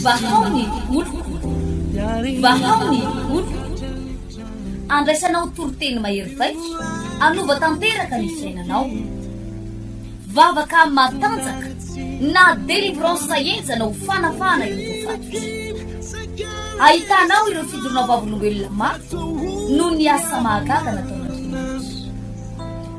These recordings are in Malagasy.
Vahao ny oloko, vahao ny oloko, andraisanao toriteny mahery vaika, hanova tanteraka ny fiainanao. Vavaka matanjaka na délivrance henjana ho fanafahana ireo voafaty. Ahitanao ireo fijoroanao vavolombelona mafy noho ny asa mahagaga nataon'Andriamanitra.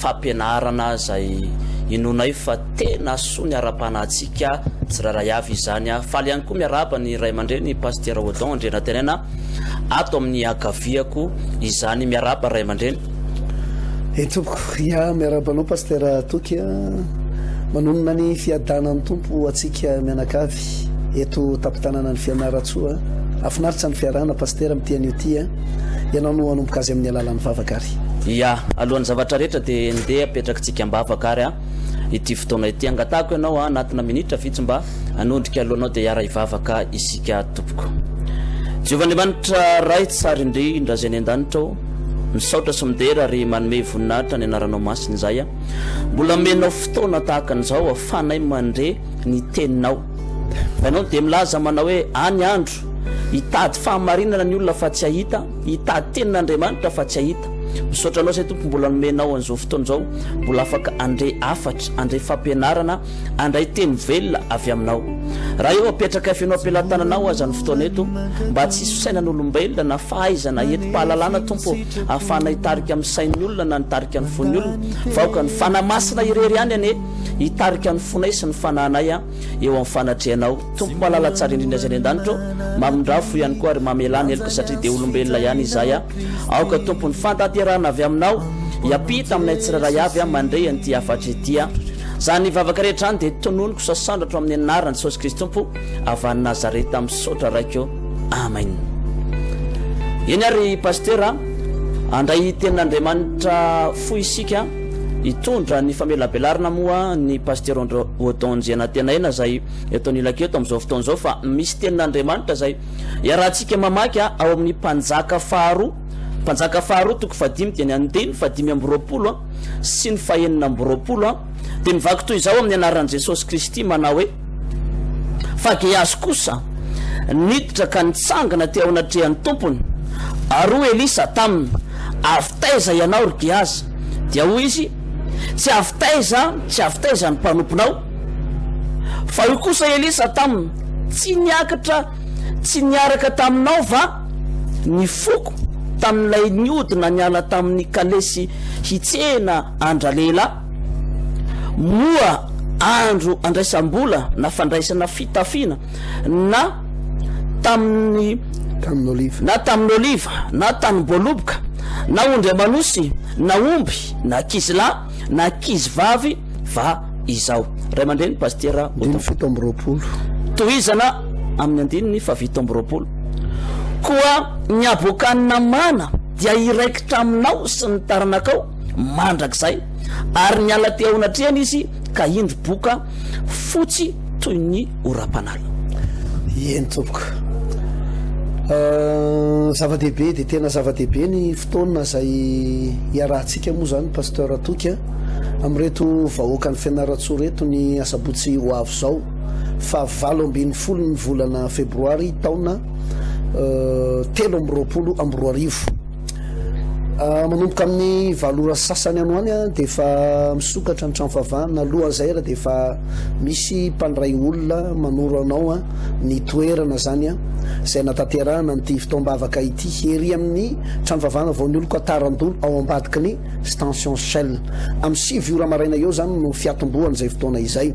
fampianarana izay inoanay fa tena soa ny ara-panahintsika tsirairay avy izany. Faly ihany koa miarahaba ny ray aman-dreny Pasitera Odon Andrianantenaina ato amin'ny ankaviako izany. Miarahaba ray aman-dreny. Eny tompoko, ya miarahaba anao Pasitera Toky a. Manonona ny fiadanan'ny Tompo ho antsika mianakavy. Ity eto tampon-tananan'i Fianarantsoa a! Hafinaritra ny fiarahana Pasitera amin'ity anio ity a! Ianao no hanomboka azy amin'ny alalan'ny vavaka ary. Ia! Alohan'ny zavatra rehetra dia ndeha apetrakitsika am-bavaka ary a! Ity fotoana ity. Angatahako ianao a! Anatina minitra vitsy mba hanondrika alohanao dia hiara-hivavaka isika tompoko. Jehovah Andriamanitra Ray tsara indrindra izay any an-danitra ô! Misaotra sy midera ary manome voninahitra ny anaranao masina izahay a! Mbola amenao fotoana tahaka an'izao aho fanay mandre ny teninao. Ianao dia milaza manao hoe, Any andro, hitady fahamarinana ny olona fa tsy hahita, hitady tenin'Andriamanitra fa tsy hahita. Misaotra Anao izay Tompo mbola nomenao an'izao fotoana izao, mbola afaka handre hafatra, handre fampianarana, handray teny velona avy Aminao. Raha eo apetrakay feno am-pelatananao aza ny fotoana eto, mba tsy hisy fisainan'olombelona na fahaizana, hetim-pahalalana Tompo ô, ahafahana hitarika amin'ny sain'ny olona na nitarika ny fon'ny olona, fa aoka ny Fanahy Masina irery ihany anie, Hitarika ny fonay sy ny fanahinay eo amin'ny fanatrehanao. Tompo malala tsara indrindra izay any an-danitra ô, mamindrafo ihany koa ary mamelà ny heloka satria dia olombelona ihany izahay. Aoka Tompo ny fantanterahana avy aminao hiampita aminay tsirairay avy mandre an'ity hafatra ity. Izany vavaka rehetra izany dia tononiko sasandratro amin'ny anaran'i Jesosy Kristy Tompo avy any Nazareta. Misaotra Raiko ô. Amen. Eny ary Pasitera, handray tenin'Andriamanitra fohy isika. Hitondra ny famelabelarana moa ny Pasitera André Odon Njianantenaina izay eto anilako eto amin'izao fotoana izao fa misy tenin'Andriamanitra izay iarahantsika mamaky ao amin'ny Mpanjaka faharoa, Mpanjaka faharoa toko fahadimy dia ny andiny fahadimy amby roapolo sy ny fahenina amby roapolo dia mivaky toy izao amin'ny anaran'i Jesosy Kristy manao hoe, Fa Gehazy kosa niditra ka nitsangana teo anatrehan'ny tompony, ary hoy Elisa taminy, Avy taiza ianao, ry Gehazy? Dia hoy Izy, Tsy avy taiza, tsy avy taiza ny mpanomponao? Fa hoy kosa Elisa taminy, Tsy niakatra, tsy niaraka taminao va ny foko tamin'ilay niodina niala tamin'ny kalesy hitsena an-dralehilahy? Moa andro andraisam-bola na fandraisana fitafiana na tamin'ny. Tanin'oliva. Na tamin'oliva, na tanim-boaloboka, na ondry aman'osy, na omby, na ankizilahy, na ankizivavy va izao? Ray aman-dreny, Pasitera Otto. Andininy fito amby roapolo. Tohizana amin'ny andininy fahafito amby roapolo. Koa ny aboakan'ny namana dia hiraikitra aminao sy ny taranakao mandrakizay. Ary niala teo anatrehan'izy ka indro boka fotsy toy ny orampanala. Eny tompoko. Zava-dehibe dia tena zava-dehibe ny fotoana izay iarahantsika moa izany Pasteur Toky amin'ireto vahoakan'i Fianarantsoa ireto ny asabotsy ho avy izao faha valo ambin'ny folo ny volana febroary taona telo amby roapolo amby roa arivo. Manomboka amin'ny valo ora sy sasany any ho any dia efa misokatra ny trano fahavahana. Alohan'izay ary dia efa misy mpandray olona manoro anao ny toerana izany izay hanatanterahana an'ity fotoam-bavaka ity, ery amin'ny trano fahavahana vao nioloko Atarandolo ao ambadiky ny Stention Shell. Amin'ny sivy ora maraina eo izany no fiatombohan'izay fotoana izay.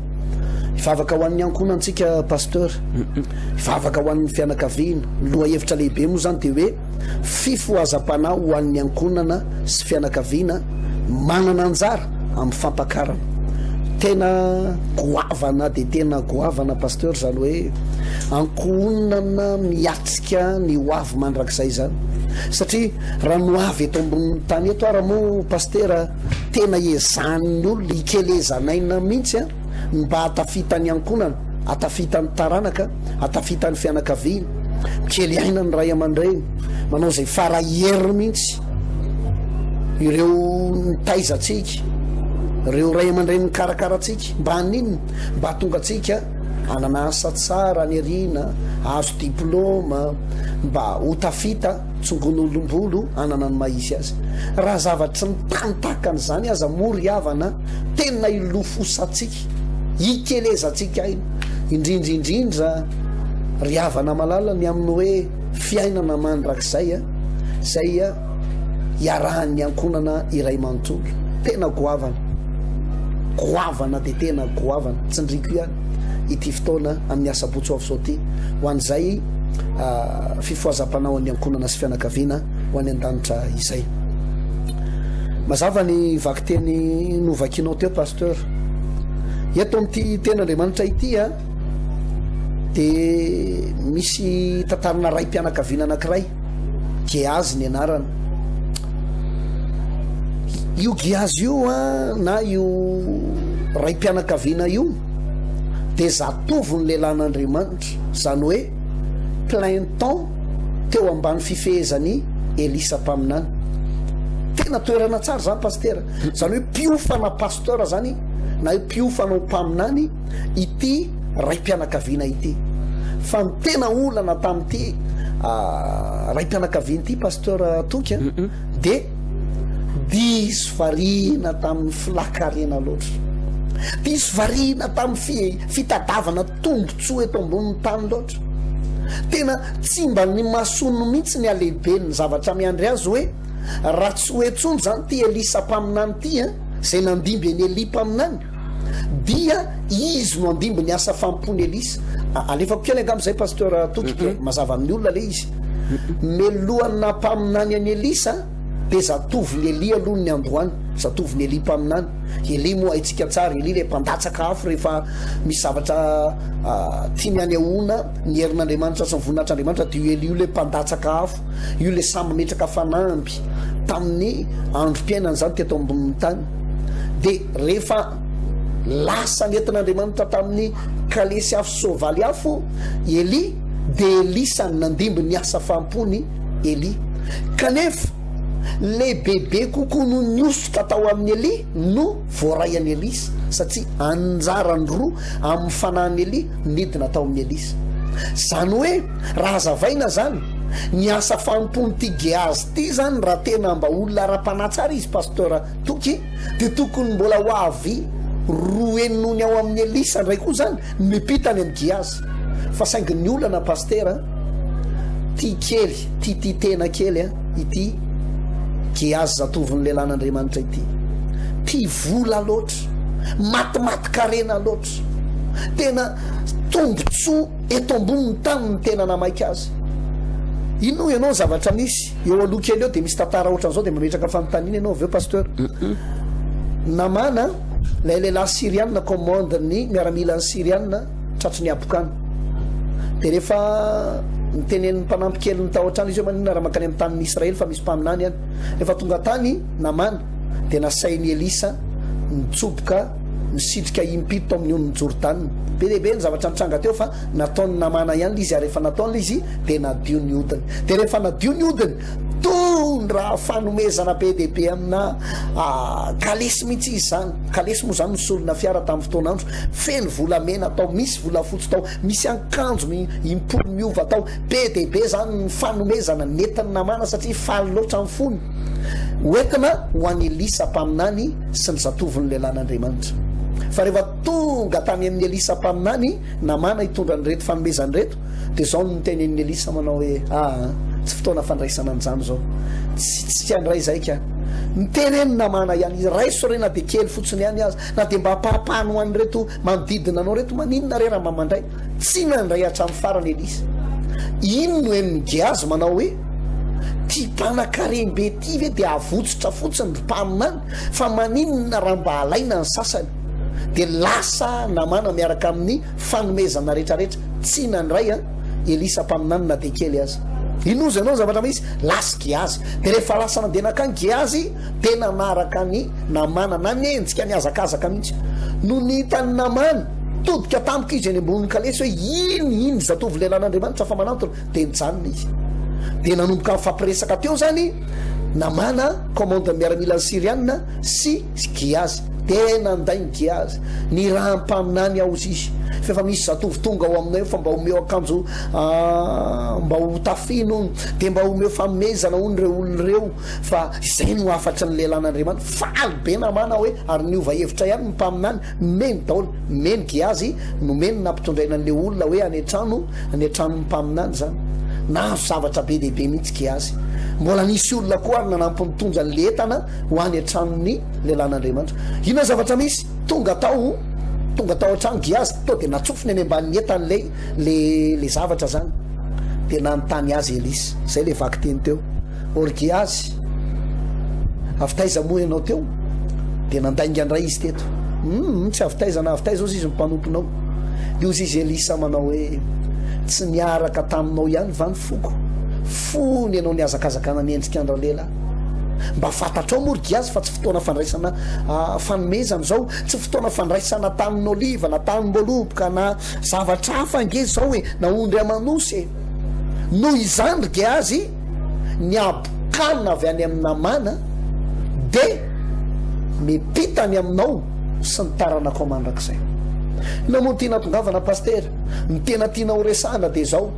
Hivavaka ho an'ny ankohonantsika Pasteur, hivavaka ho an'ny fianakaviana. Ny lohahevitra lehibe moa izany dia hoe. Fifohazam-panahy ho an'ny ankohonana sy fianakaviana manana anjara amin'ny fampakarana. Tena goavana dia tena goavana Pasteur izany hoe ankohonana miatrika ny ho avy mandrakizay izany. Satria raha ny ho avy eto ambonin'ny tany eto ara moa Pastera tena ezahan'ny olona, ikelezanaina mihitsy an. Mba hahatafita ny ankohonana, hahatafita ny taranaka, hahatafita ny fianakaviana, mikely aina ny ray aman-dreny, manao izay fara hery mihitsy ireo nitaiza antsika, ireo ray aman-dreny nikarakara antsika. Mba haninona? Mba hahatonga antsika hanana asa tsara any aoriana, hahazo diplaoma, mba ho tafita. Tsongon'olom-bolo hanana ny maha izy azy. Raha zavatry ny tany tahaka an'izany aza moa ry havana a! Tena hilofosantsika, hikelezantsika aina. Indrindra indrindra ry havana malala ny amin'ny hoe fiainana mandrakizay a! izay iarahan'ny ankohonana iray manontolo. Tena goavana, goavana dia tena goavana. Tsindriako ihany. ity fotoana amin'ny asabotsy ho avy izao ity ho an'izay fifohazam-panaon'ny ankohonana sy fianakaviana ho any an-danitra izay. Mazava ny vakiteny novakianao teo Pasteur. Eto amin'ity tenin'Andriamanitra ity a dia misy tantarana raim-pianakaviana anankiray. Gehazy ny anarany. Io Gehazy io a, na io raim-pianakaviana io dia zatovon'ny lehilahin'Andriamanitra, izany hoe plein temps teo ambany fifehezan'i Elisa mpaminany. Tena toerana tsara izany Pasitera, izany hoe mpiofana Pasteur izany na hoe mpiofana ho mpaminany. ity raim-pianakaviana ity fa ny tena olana tamin'ity raim-pianakaviana ity Pasteur Toky a dia diso variana tamin'ny filakarena loatra diso variana tamin'ny fitadavana tombontsoa eto ambonin'ny tany loatra tena tsy mba ny mason'ny mihitsy ny alehiben'ny zavatra miandry azy hoe raha tsy hoetsony zany ty Elisa mpaminany ty a izay nandimby eny Elia mpaminany Dia izy no andimby ny asa fampony Elisa. A- Alefako kely angamba izay Pasteur Toky dia mazava amin'ny olona le izy. Melohan'ny nampaminany an'i Elisa dia zatovin'i Elia aloha ny niandohany, zatovin'i Elia mpaminany. Elia moa haintsika tsara, Elia ilay mpandatsaka afo rehefa misy zavatra ah, tiany hanehoana ny herin'Andriamanitra sy ny voninahitr'Andriamanitra dia io Elia io ilay mpandatsaka afo. Io ilay samy metraka fanamby tamin'ny androm-piainany izany teto ambonin'ny tany. Dia rehefa lasa nentin'Andriamanitra tamin'ny kalesy afo soavaly afo i Elia, dia Elisa no nandimby ny asa faham-pon'i Elia. Kanefa lehibebe kokoa noho ny hosoka tao amin'i Elia no voaray an'i Elisa, satria anjarany roa amin'ny fanahin'i Elia nidina tao amin'i Elisa. Izany hoe, Raha hazavaina izany, ny asa fanompoan'ity Gehazy ity izany raha tena mba olona ara-panahy tsara izy Pasteur Toky dia tokony mbola ho avy roa henony ao amin'i Elisa indray koa izany no mipita any amin'i Gehazy fa saingy ny olana Pastera tia kely tia tia tena kely ity Gehazy zatovin'ny lehilahin'Andriamanitra ity tia vola loatra matimatin-karena loatra tena tombontsoa Eto ambonin'ny tany no tena namaika azy. Inona hoy ianao ny zavatra misy? Eo aloha kely eo dia misy tantara ohatran'izao dia mametraka fanontaniana ianao avy eo Pasteur. Namana, ilay lehilahy Syriana commande ny miaramilany Syriana tratry ny habokana. Dia rehefa nitenenin'ny mpanampy keliny tao an-trano izy hoe maninona raha mankany amin'ny tanin'i Israely fa misy mpaminany any. Rehefa tonga tany Namana dia nasain'i Elisa nitsoboka Nisitrika impito amin'ny onin'i Jordana. Be dia be ny zavatra nitranga teo fa nataon'i Namana ihany ilay izy ary rehefa nataony ilay izy dia nadio ny hodiny. Dia rehefa nadio ny hodiny, tondra fanomezana be dia be amina kalesy mihitsy izy izany. Kalesy moa izany nisolona fiara tamin'ny fotoan'andro, feno volamena tao, misy volafotsy tao, misy ankanjo im-polo miova tao. Be dia be izany ny fanomezana nentin'i Namana satria faly loatra ny fony. Hoentina ho an'i Elisa mpaminany sy ny zatovony lehilahy an'Andriamanitra. Fa rehefa tonga tany amin'i Elisa mpaminany Namana hitondra an'ireto fanomezana ireto, dia izao no notenenin'i Elisa manao hoe, Aa, tsy fotoana fandraisana an'izany izao. Tsy, tsy handray izay ka. Miteny eny Namana ihany, Raiso re na dia kely fotsiny ihany aza, na dia mba ampahapahany ho an'ireto manodidina anao ireto, maninona re raha mba mandray? Tsy nandray hatramin'ny farany Elisa. Iny no henon'i Gehazy manao hoe, Ity mpanakarem-be ity ve dia havotsotra fotsiny ry mpaminany? Fa maninona raha mba alaina ny sasany? Dia lasa Namana miaraka amin'ny fanomezana rehetrarehetra. Tsy nandray an Elisa mpaminany na dia kely aza. Inozy ianao ny zavatra misy? Lasa Gehazy. Dia rehefa lasa nandeha nankany Gehazy. dia nanaraka ny namana, nanenjika nihazakazaka mihitsy. Nony hitan'ny namany, nitodika tampoka izy eny ambonin'ny kalesy hoe, Iny, iny zatovo lelan'Andriamanitra fa manantona, dia nijanona izy. Dia nanomboka nifampiresaka teo izany Namana, commandant miaramila Syriana sy Giazy. Dia nanday ny Giazy, ny rahampaminany aozy izy, fa efa misy zatovo tonga ao aminay fa mba omeo akanjo ah, mba ho tafino, dia mba omeo fanomezana hono ireo olona ireo. Fa izay no hafatry ny lelan'Andriamanitra, faly be namana hoe ary niova hevitra ihany ny mpaminany, nomeny daholo, nomeny Gehazy, nomeny nampitondraina an'ilay olona hoe any an-trano, any an-tranon'ny mpaminany izany. Nahazo zavatra be dia be mihitsy Gehazy. Mbola nisy olona koa ary nanampy nitondra an'ilay entana ho any an-tranon'ny lelan'Andriamanitra. Inona zavatra misy? Tonga tao, tonga tao an-trano Gehazy, tonga dia natsofony any ambanin'ny entany ilay, ilay, ilay zavatra izany. Dia nanontany azy Elisa. Izay ilay vakiteny teo. Orgiasy, avy taiza moa ianao teo? Dia nandainga indray izy teto. Humm, tsy avy taiza na avy taiza ozy izy no mpanomponao. Dia hozy izy Elisa manao hoe, Tsy niaraka taminao ihany va ny foko? Fony ianao nihazakazaka nanenjika an-dRalehilahy. Mba fantatrao moa ry Giasy fa tsy fotoana fandraisana fanomezana izao, tsy fotoana fandraisana tanin'oliva na tanim-boaloboka na zavatra hafa ange izao e, na ondry aman'osy e. Noho izany ry Gehazy, Ny habokana avy any amin'ny namana dia miampita any aminao sy ny taranakao mandrakizay. Namoa ty natongavana Pasitera, ny tena tiana ho resahana dia izao,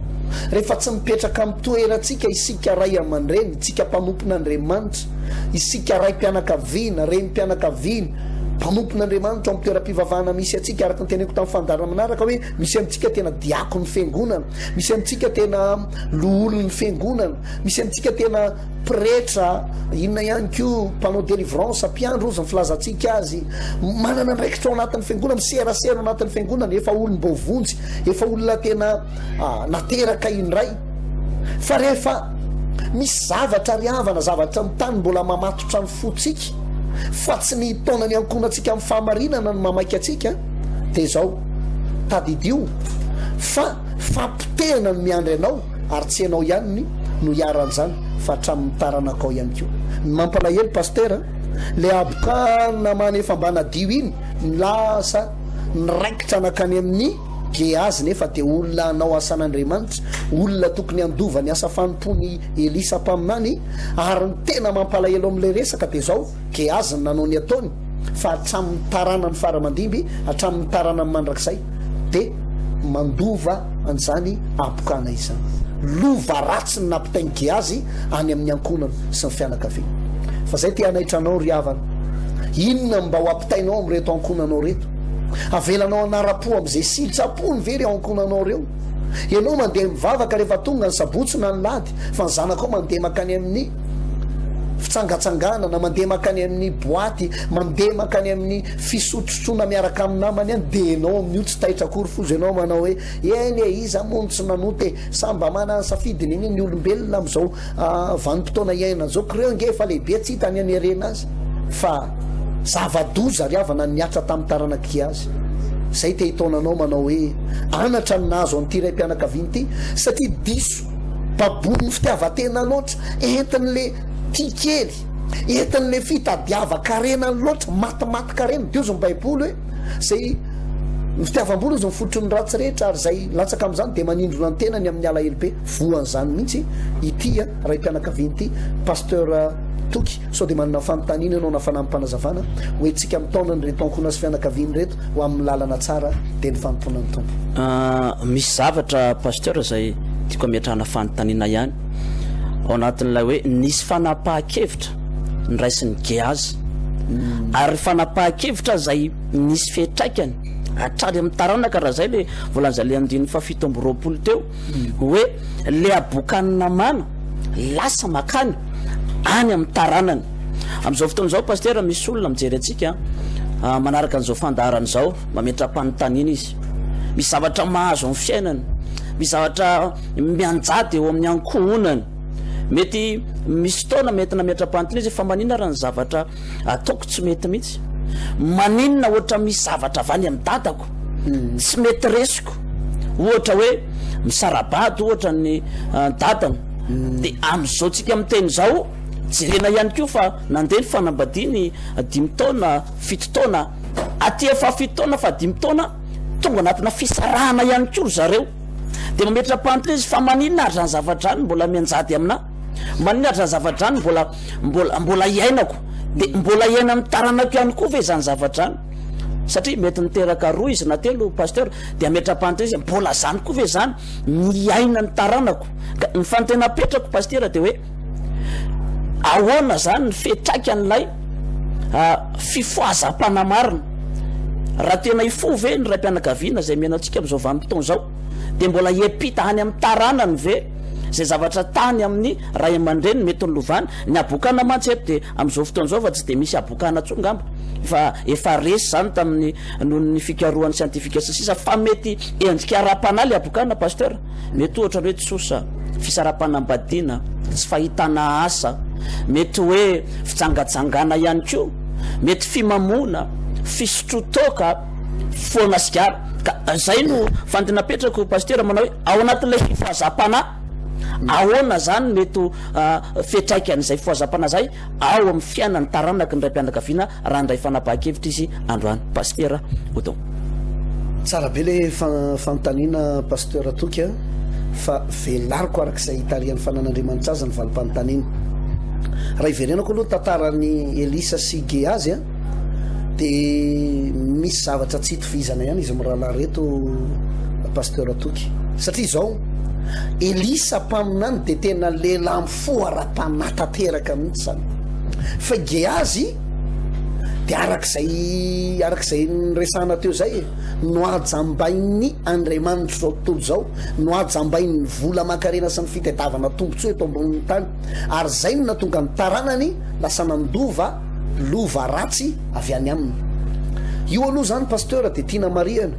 rehefa tsy mipetraka amin'ny toerantsika isika ray aman-dreny, isika mpanompon'Andriamanitra, isika raim-pianakaviana, renim-pianakaviana, mpanompon'Andriamanitra ao amin'ny toeram-pivavahana misy antsika, araka ny teneniko tamin'ny fandaharana manaraka hoe, Misy amintsika tena diakon'ny Fiangonana, misy amintsika tena loholon'ny Fiangonana, misy amintsika tena pretra, inona ihany koa, mpanao délivrance, mpiandry hozy ny filazantsika azy, manana andraikitra ao anatin'ny Fiangonana, miserasera ao anatin'ny Fiangonana, efa olom-boavonjy, efa olona tena nateraka indray. Fa rehefa misy zavatra ry havana, zavatra ny tany mbola mamatotra ny fontsika, fa tsy ny taonan'ny ankohonantsika amin'ny fahamarinana no mamaika antsika, dia izao, tadidio fa fampotehana no miandry anao ary tsy ianao ihany no iharan'izany fa hatramin'ny taranakao ihany koa. Ny mampalahelo Pastera, ilay habokana manefa mba nadio iny no lasa niraikitra nankany amin'ny Gehazy nefa dia olona hanao asan'Andriamanitra, olona tokony handova ny asa fanompoan'i Elisa mpaminany, ary ny tena mampalahelo amin'ilay resaka dia izao, Ke azony nanao ny ataony fa hatramin'ny taranany fara aman-dimby hatramin'ny taranany mandrakizay de mandova an'izany apokana izany. Lova ratsy ny nampitain'i Gehazy any amin'ny ankohonany sy ny fianakaviany. Fa izay te hanaitra anao ry havana, inona no mba ho ampitainao amin'ireto ankohonanao ireto? Avelanao hanara-po amin'izay siltsapony ve ireo ankohonanao ireo? Ianao mandeha mivavaka rehefa tonga ny sabotsy na ny lahady fa ny zanakao mandeha mankany amin'ny fitsangatsangana na mandeha makany amin'ny boaty, mandeha makany amin'ny fisotrosotroana miaraka amin'ny namany any dia ianao amin'io tsy taitra akory foza ianao manao hoe eny e iza moa no tsy nanota e! samy mba manana ny safidiny anie ny olombelona amin'izao vanim-potoana iainana izao ko reo ange efa lehibe tsy hita ny hanerena azy fa zava-doza ry havana nihatra tamin'ny taranak'i azy izay te hitaona anao manao hoe anatra ny nahazo an'ity raim-pianakaviana ity satria diso Baboin'ny fitiavan-tena loatra, entin'le tia kely, entin'le fitadiavan-karena loatra, matimatin-karena. Dia hozy ny baiboly hoe, izay, ny fitiavam-bola hozy ny fototry ny ratsy rehetra, ary izay latsaka amin'izany dia manindrona ny tenany amin'ny alahelo be. Voan'izany mihitsy ity raim-pianakaviana ity. Pasteur Toky, sao dia manana fanontaniana ianao na fanamim-panazavana, hoe tsika mitaona an'ireto ankohonasy fianakaviana ireto, ho amin'ny lalana tsara dia ny fanompoana ny Tompo. Misy zavatra Pasteur izay tiako ametrahana fanontaniana ihany ao anatin'ilay hoe nisy fanapahan-kevitra niraisin'i Gehazy hmm. ary fanapahan-kevitra izay nisy fiatraikany hatrany amin'ny taranaka raha izay le volan'izay le andininy fahafito amby roapolo teo hmm. hoe le abokan'ny namana lasa makany any amin'ny taranany Amin'izao fotoana izao Pasitera, misy olona mijery antsika manaraka an'izao fandaharana izao, mametra-panontaniana izy. Misy zavatra mahazo amin'ny fiainany, misy zavatra mianjady eo amin'ny ankohonany. Mety misy fotoana mety nametra-panontaniana izy fa maninona raha ny zavatra ataoko tsy mety mihitsy? Maninona ohatra misy zavatra avy any amin'ny dadako hmm. tsy mety resiko? Ohatra hoe misarabady ohatra ny ah, dadany. Hmm. Dia amin'izao tsika miteny izao Jerena ihany koa fa nandeha ny fanambadiany dimy taona, fito taona, aty efa fahafito taona, fahadimy taona, tonga anatina fisarahana ihany koa ry zareo. Dia mametra-panontana izy fa maninona ary zany zavatra zany mbola mianjady aminà? Maninona ary zany zavatra zany mbola mbola mbola iainako? Dia mbola iainan'ny taranako ihany koa ve izany zavatra zany? Satria mety niteraka roa izy na telo pasteur dia ametra-panontana izy mbola zany koa ve zany ny iainan'ny taranako? Ka ny fanontena apetrako pasitera dia hoe. Ahoana izany ny fiantraikan'ilay fifohazam-panahy marina? Raha tena hifoha ve ny raim-pianakaviana izay miaina amintsika amin'izao vanim-potoana izao? Dia mbola hiampita any amin'ny taranany ve izay zavatra tany amin'ny ray aman-dreniny mety nolovany? Ny habokana mantsy eto dia amin'izao fotoana izao fa tsy dia misy habokana intsony angamba, fa efa resy izany tamin'ny noho ny fikarohan'ny siantifika sy ny sisa fa mety endrika ara-panahy ilay habokana, Pasteur. Mety ohatra hoe tsosa, fisarapanambadiana, tsy fahitana asa, mety hoe fijangajangana ihany koa, mety fimamoana, fisotroan-toaka, foana sigara. Ka izay no fandy napetrako Pasitera manao hoe ao anatin'ilay fifohazam-panahy, ahoana izany mety ho fetraikan'izay fifohazam-panahy izay ao amin'ny fiainan'ny taranaky ny raim-pianakaviana raha handray fanapahan-kevitra izy androany Pasitera Odon. Tsara be le fanontaniana Pasteur Toky a, fa velariko araka izay itarihan'ny fanan'Andriamanitra azy ny valim-panontaniana. Raha iverenako aloha ny tantaran'i Elisa sy Gehazy a, dia misy zavatra tsy itovizana ihany izy mirahalahy reto Pasteur Toky. Satria izao, Elisa mpaminany dia tena lehilahy foaram-panahy tanteraka mihitsy izany fa i Gehazy dia araka izay araka izay niresahana teo izay e nohajambain'ny andriamanitro izao tontolo izao nohajambain'ny vola aman-karena sy ny fitadiavana tombontsoa eto ambonin'ny tany ary izay no nahatonga ny taranany lasa nandova lova ratsy avy any aminy io aloha izany pasteur dia tiana marihana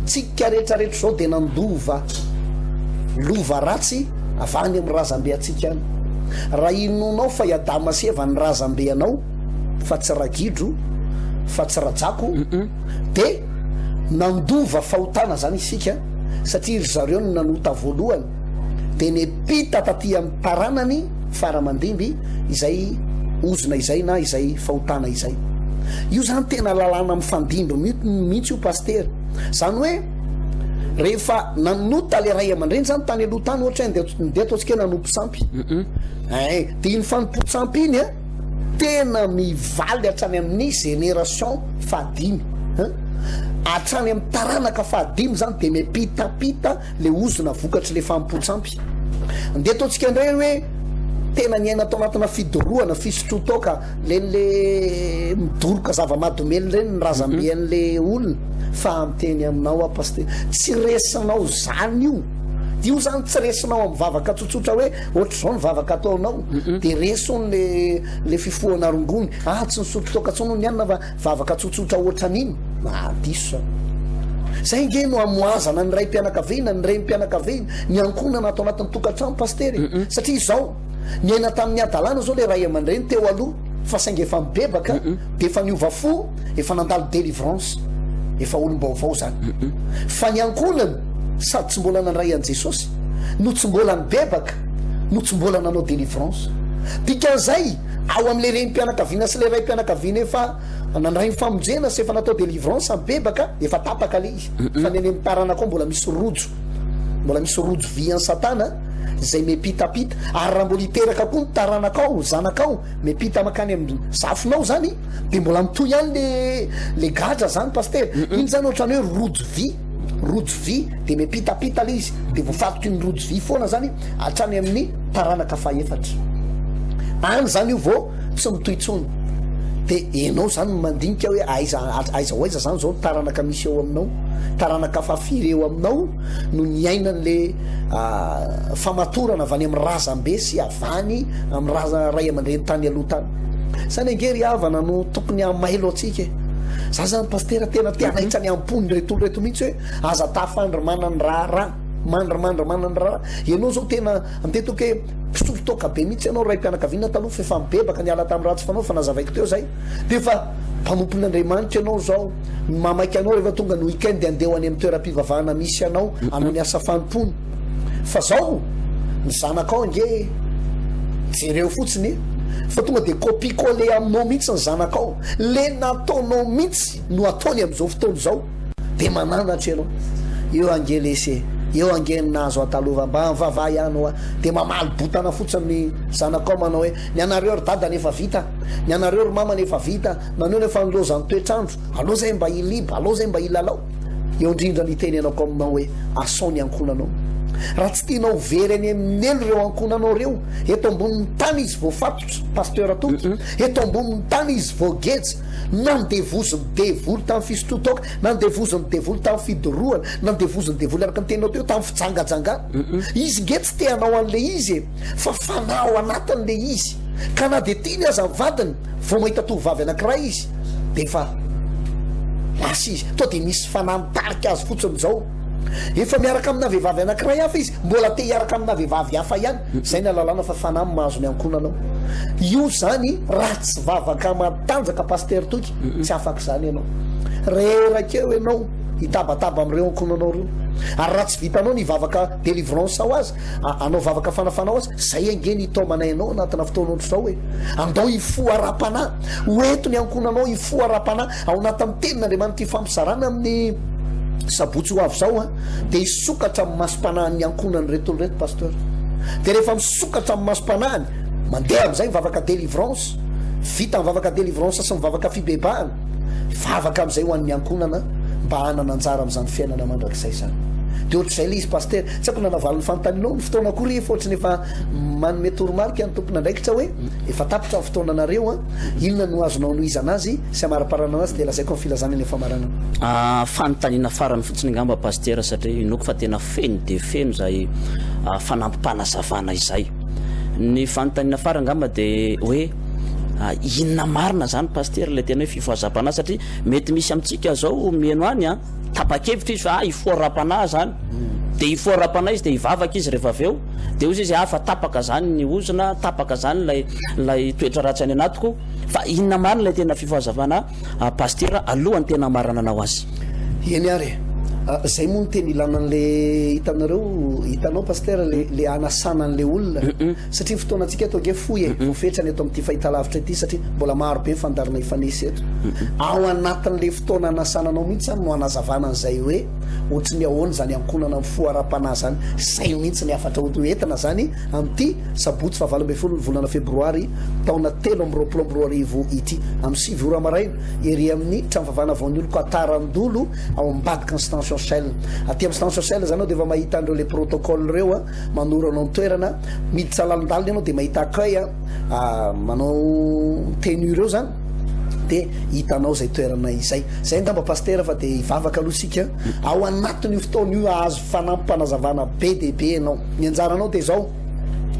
Tsika rehetra rehetra izao dia nandova lova ratsy avy any amin'ny razambe antsika any. Raha inoanao fa i Adama sy Eva ny razambe anao fa tsy ragidro, fa tsy rajako, dia nandova fahotana izany isika satria ry zareo no nanota voalohany. dia nepita taty amin'ny taranany fara aman-dimby izay ozona izay na izay fahotana izay. Io izany tena lalàna mifandimby mihitsy io Pasitera. Izany hoe rehefa nanota ilay ray aman-dreny izany tany aloha tany ohatra hoe ndeha ataontsika hoe nanompo tsampy. Ay, dia iny fanompoan-tsampy iny an, tena mivaly hatrany amin'ny génération fahadimy. Hatrany amin'ny taranaka fahadimy izany dia mepitapita le ozona vokatry le fahampoan-tsampy. Ndeha ataontsika indray hoe tena niaina tao anatina fidorohana, fisotroan-toaka, len'le midoroka zava-mahadomelina ireny ny razambe an'le olona. Fa miteny aminao aho Pasitera, tsy resinao zany io. Io zany tsy resinao amin'ny vavaka tsotsotra hoe ohatr'izao ny vavaka ataonao, de reso le le fifohana rongony, ah tsy nisotro toaka intsony hono i anona fa Vavaka tsotsotra ohatran'iny? Aah diso zany. Zay nge no amoazana ny raim-pianakaviana, ny renim-pianakaviana, ny ankohonana ato anatin'ny tokantrano Pasitera e! Satria izao, niaina tamin'ny hadalana zao le ray aman-dreny teo aloha fa saingy efa mibebaka dia efa niova fo, efa nandalo delivrance, efa olom-baovao zany. Fa ny ankohonana sady tsy mbola nandray an'i Jesosy no tsy mbola nibebaka, no tsy mbola nanao delivrance. Dikan'izay. ao amin'ilay renim-pianakaviana sy ilay raim-pianakaviana efa nandray ny famonjena sy efa natao délivrance mibebaka efa tapaka ilay izy fa ny any amin'ny taranaka ao mbola misy rojo mbola misy rojo vy an'i satana izay miampitapita ary raha mbola hiteraka koa ny taranakao zanakao miampita makany amin'ny zafinao zany dia mbola mitohy ihany le le gadra zany pastera iny zany ohatran'ny hoe rojo vy rojo vy dia miampitapita ilay izy dia voafatoky ny rojo vy foana zany hatrany amin'ny taranaka fahefatra any izany io vao tsy mitohy intsony. Dia ianao izany no mandinika hoe aiza aiza ho aiza izany izao ny taranaka misy eo aminao, taranaka fahafiry eo aminao no niainan'ilay famatorana avy any amin'ny razambe sy avy any amin'ny raza ray aman-dreny tany aloha tany. Izany ange ry havana no tokony hamailo antsika e. Za zany pastera tena te hanaitra ny am-pony reto olona reto mihitsy hoe aza tafandry manana ny raharaha. Mandry mandry manandrara ianao zao tena mipetoka hoe mpisolo toaka be mihitsy ianao raim-pianakaviana taloha fa efa mibebaka niala tamin'ny ratsy fanao efa nazavaiko teo zay dia efa mpanompo n'Andriamanitra ianao zao ny mamaika anao rehefa tonga ny week-end dia andeho any amin'ny toeram-pivavahana misy anao hanao ny asa fanompoana fa zao ny zanakao ange jereo fotsiny fa tonga dia copie coller aminao mihitsy ny zanakao le nataonao mihitsy no ataony amin'izao fotoana izao Dia mananatra ianao. Eo ange lesy e. Eo ange ny nahazo Atalova. Mba mivavaha ihany hoa. Dia mamaly botana fotsiny ny zanakao manao hoe, ny anareo ry dadany efa vita. Ny anareo ry mamany efa vita. Naneho ny efa nilaozan'ny toetr'andro. Aleo izay mba hiliba. Aleo izay mba hilalao. Eo indrindra ny hitenenako aminao hoe, asao ny ankohonanao. Raha tsy tianao ho very any amin'ny helo ireo ankohonanao ireo, eto ambonin'ny tany izy voafatotra, Pasteur Toky. Eto ambonin'ny tany izy voageja. Nandevozin'ny devoly tamin'ny fisotroan-toaka, nandevozin'ny devoly tamin'ny fidorohana, nandevozin'ny devoly araka ny teninao teo tamin'ny fijangajangana. Izy nge tsy te hanao an'ilay izy e! Fa fanahy ao anatiny ilay izy. Ka na dia tiany aza ny vadiny, vao mahita tovovavy anankiray izy dia efa lasa izy. Toa dia misy fanahy mitarika azy fotsiny izao. Efa miaraka amina vehivavy anankiray hafa izy, mbola te hiaraka amina vehivavy hafa ihany. Izay ny alalana fa fanahy no mahazo miankona anao. Io izany raha tsy vavaka matanjaka Pasitera Toky, tsy afaka izany ianao. Reraka eo ianao hitabataba amin'ireo ankonanao ireo. Ary raha tsy vitanao ny hivavaka delivrance ao aza, hanao vavaka fanafana ao aza, izay ange ny hitaomana ianao anatina fotoana ohatr'izao e. Andao hifoha ara-panahy. Ho ento ny ankonanao hifoha ara-panahy. Ao anatin'ny Tenin'Andriamanitra ifampizarana amin'ny sabotsy ho avy izao dia hisokatra amin'ny masom-panahin'ny ankohonany ireto tontolo ireto Pasteur. Dia rehefa misokatra amin'ny masom-panahiny, mandeha amin'izay ny vavaka délivrance, vita ny vavaka délivrance sy ny vavaka fibebahana, vavaka amin'izay ho an'ny ankohonana mba hanana anjara amin'izany fiainana mandrakizay izany. Dia ohatr'izay ilay izy Pasteur. Tsy haiko na navaly ny fanontanianao, ny fotoana koa rehefa ohatrany efa manome toromarika ny tompon'andraikitra hoe efa tapitra ny fotoananareo. Inona no azonao anohizana azy sy amariparanana azy dia lazaiko ny filazany any famaranana. Ah, fanontaniana farany fotsiny angamba Pasitera satria inoako fa tena feno dia feno izay fanampim-panazavana izay. Ny fanontaniana farany angamba dia hoe inona marina izany Pasitera ilay tena hoe fifohazam-panahy satria mety misy amintsika izao miheno any an, tapa-kevitra izy fa ah hifoha ara-panahy izany, dia hifoha ara-panahy izy dia hivavaka izy rehefa avy eo. Dia hozy izy, Afa tapaka izany ny ozona, tapaka izany ilay ilay toetra ratsy any anatiko, fa inona marina ilay tena fifahazavana an Pasitera aloha ny tena hamarananao azy? Eny ary e! Izay moa no tena ilana an'ilay hitanareo, hitanao Pasitera, ilay ilay hanasana an'ilay olona, satria ny fotoanantsika eto ange fohy e, voafetra ny eto amin'ity fahitalavitra ity, satria mbola maro be ny fandaharana hifanesy eto. Ao anatin'ilay fotoana hanasana anao mihitsy izany no hanazavana an'izay hoe. Otrin'ny ahoana zany ankonana mifoha ara-panahy zany, sahy mihitsy ny hafatra ho entina zany amin'ity sabotsy faha valo ambin'ny folo ny volana febroary taona telo amby roapolo amby roa arivo ity amin'ny sivy ora maraina ery amin'ny trano fivavahana vaonioloko Atarandolo ao ambadika ny stantion Shell aty amin'ny stantion Shell zany aho dia efa mahita an'ireo le protocole ireo a manoro anao ny toerana miditra lalindalina ianao dia mahita accueil a manao tenue ireo zany dia hitanao izay toerana izay. Izay angamba Pasitera fa dia hivavaka aloha isika, ao anatin'io fotoana io hahazo fanampim-panazavana be dia be ianao. Ny anjaranao dia izao,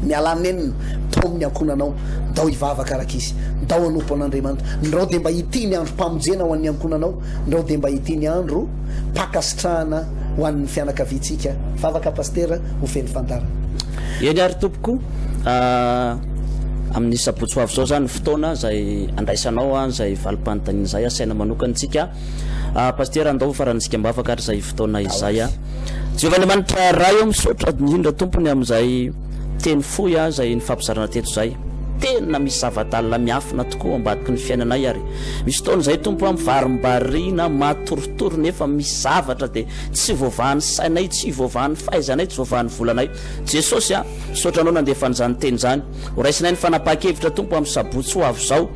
mialà nenina tao amin'ny ankohonanao, ndao hivavaka araka izy, ndao hanompo an'Andriamanitra, ndrao dia mba ity ny androm-pamonjena ho an'ny ankohonanao, ndrao dia mba ity ny androm-pankasitrahana ho an'ny fianakaviantsika. Vavaka Pasitera, ho feno fandarana. Eny ary tompoko ah, amin'ny sabotsy ho avy izao izany ny fotoana izay andraisanao an izay valim-panontaniana izay asaina manokana antsika ah, Pasitera andao ho faran'ny zikam-bavaka ary izay fotoana izay ah. Jehovah Andriamanitra Ray oh, misaotra indrindra tompony amin'izay teny fohy ah izay nifampizarana teto izay, tena misy zava-dalina miafina tokoa ao ambadiky ny fiainanay ary misy fotoana izay Tompo ah, mivarimbarina, matoritory nefa misy zavatra dia Tsy voavahan'ny sainay, tsy voavahan'ny fahaizanay, tsy voavahan'ny volanay. Jesosy a! Misaotra Anao nandefa an'izany teny izany. Horaisinay ny fanapahan-kevitra Tompo amin'ny sabotsy ho avy izao.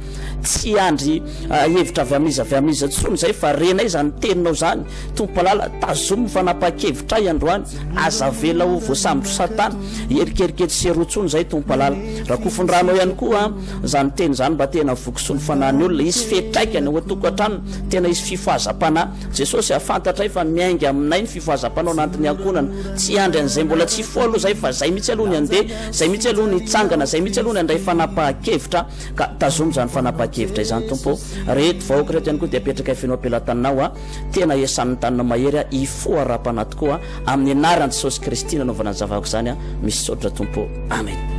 Tsy hiandry hevitra avy amin'iza avy amin'iza intsony izay fa renay izany Teninao izany. Tompo Malala, tazomy ny fanapahan-kevitray androany. Aza avela ho voasambotry Satana. Hierikerika etsy sy eroa intsony izay Tompo Malala. Rakofy ny Ranao ihany koa izany teny izany mba te-hanavoky soa ny fanahin'ny olona. Hisy fiatraikany ao an-tokantranony. Tena hisy fifohazam-panahy. Jesosy a, fantatray fa miainga aminay ny fifohazam-panao nantin'ny ankohonana. Tsy hiandry an'izay mbola tsy hifoha aloha izay fa izay mihitsy aloha ny handeha, izay mihitsy aloha ny hitsangana, izay mihitsy aloha ny handray fanapahan-kevitra. Ka tazomy izany fanapahan-kevitra izany Tompo ô. Reto vahoaka reto ihany koa dia apetrakay feno am-pelatananao a. Tena esan'ny tanina mahery a, hifoha ara-panahy tokoa a. Amin'ny anaran'i Jesosy Kristy nanaovana ny zavako izany aho, misaotra Tompo ô! Amena.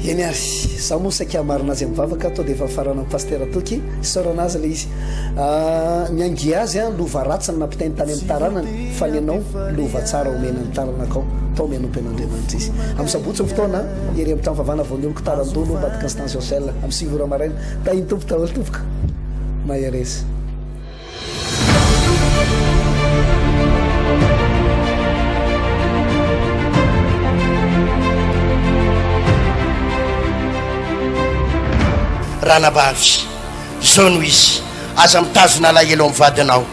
Eny ary, za moa saika hamarina azy amin'ny vavaka, to dia efa faranan'i Pasitera Toky, isaorana azy ilay izy. Ny angia azy an, lova ratsy no nampitainy tany amin'ny taranany, fa ny anao, lova tsara omena ny taranakao, tao mianompy an'Andriamanitra izy. Amin'ny sabotsy ny fotoana an, ery amin'ny trano fivavahana vao nioloko taran-doha aloha ambadiky ny Stansiosel, amin'ny sivy ora maraina. Tahin'ny Tompo daholo tompoko. Mahereza. Ranabavy, izao no izy, aza mitazona alahelo amin'ny vadinao,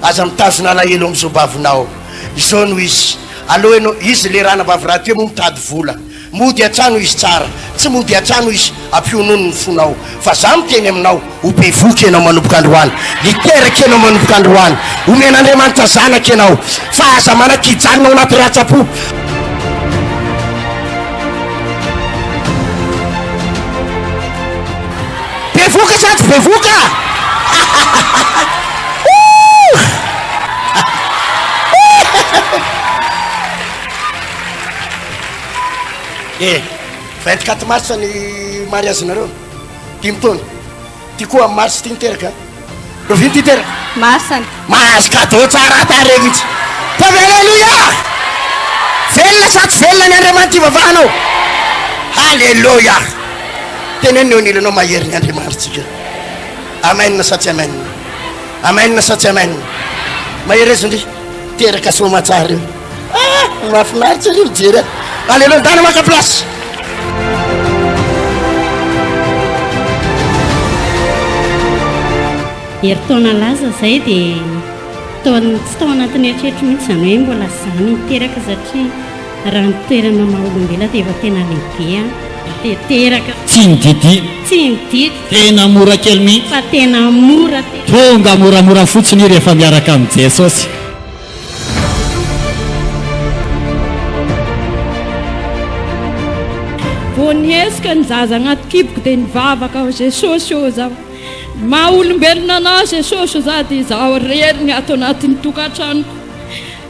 aza mitazona alahelo amin'ny zobavinao, izao no izy, aleo ianao, izy ilay ranabavy rahateo moa mitady vola, Mody hatrany hoy izy tsara, tsy mody hatrany hoy izy ampionony ny fonao fa za miteny aminao, ho bevohoka ianao manomboka androany, hiteraka ianao manomboka androany, homen'Andriamanitra zanaka ianao, fa aza manakijanona ao anaty ratsa-po. Bevohoka sa tsy bevohoka? Ooh! E, vingt quatre mars ny mariage nareo, dimy taona, ty koa am mars ty niteraka, lovia ty teraka. Masina. Mahazo cadeau tsara tarehy mihitsy. Ataovy Alléluia! Velona sa tsy velona ny Andriamanitra ivavahanao? Alléluia! Teneno ny eo anilanao mahery ny Andriamanitsika. Amen sa tsy amen? Amen sa tsy amen? Mahereza ndry, teraka soa aman-tsara eo. Ah! Mahafinaritra anie mijery azy. Allez, aleo ndana maka place. Herintaona laza izay dia taona tsy tao anatin'ny eritreritro mihitsy izany hoe mbola izany hiteraka satria raha ny toerana maha olombelona dia efa tena lehibe an. Dia teraka. Tsy ny Didi. Tsy ny Didi. Tena mora kely mihitsy. Fa tena mora. Tonga moramora fotsiny i rehefa miaraka amin'i Jesosy. Vao nihetsika ny zaza agnaty kiboko dia nivavaka aho, Jesosy ô, zaho maha olombelona Anao Jesosy ô, zaho dia zaho irery ny ato anatin'ny tokantranoko,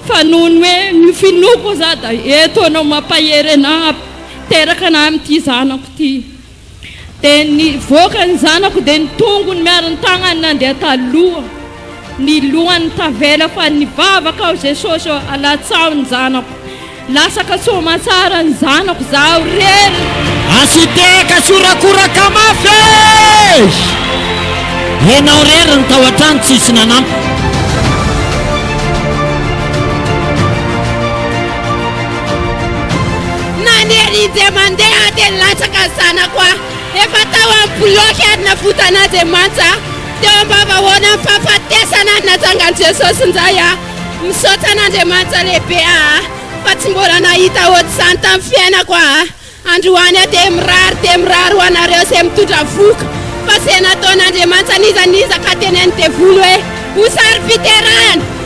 fa noho ny hoe ny finoako ô, zaho dia eto Anao mampahery anah, teraka anah amin'ity zanako ity. Dia nivoaka ny zanako dia ny tongony miaro ny tagnany nandeha taloha ny lohany tavela fa nivavaka aho Jesosy ô alatsaho ny zanako lasaka soamatsara ny zanako zaho rery Asitehaka sy horakoraka mafy eh! Enao rery ny tao an-trano tsisy nanampy. Nanery izy dia mandeha dia nilatsaka ny zanako aho. Efa tao amin'ny bilaoky ary navotan'Andriamanitra aho. Teo am-bavahoanan'ny fahafatesana ary natsangan'i Jesosy indray aho. Misaotra an'Andriamanitra lehibe aho fa tsy mbola nahita hoatr'izany tamin'ny fiainako aho. Androany aho dia mirary dia mirary ho anareo izay mitondra vohoka fa izay nataon'Andriamanitra nizanizaka teny amin'ny devoly hoe ho saro-piterahana.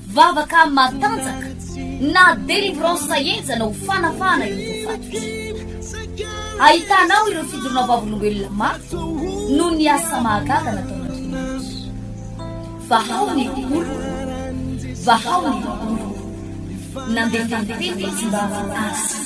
Vavaka matanjaka na delivrance sahenjana ho fanafahana ireo voafaty. Ahitanao ireo fidorona vavolombelona mafy noho ny asa mahagaga nataon'Andriamanitra. Vahao ny oloko, vahao ny oloko. Nandefa ny teny izy mba azy.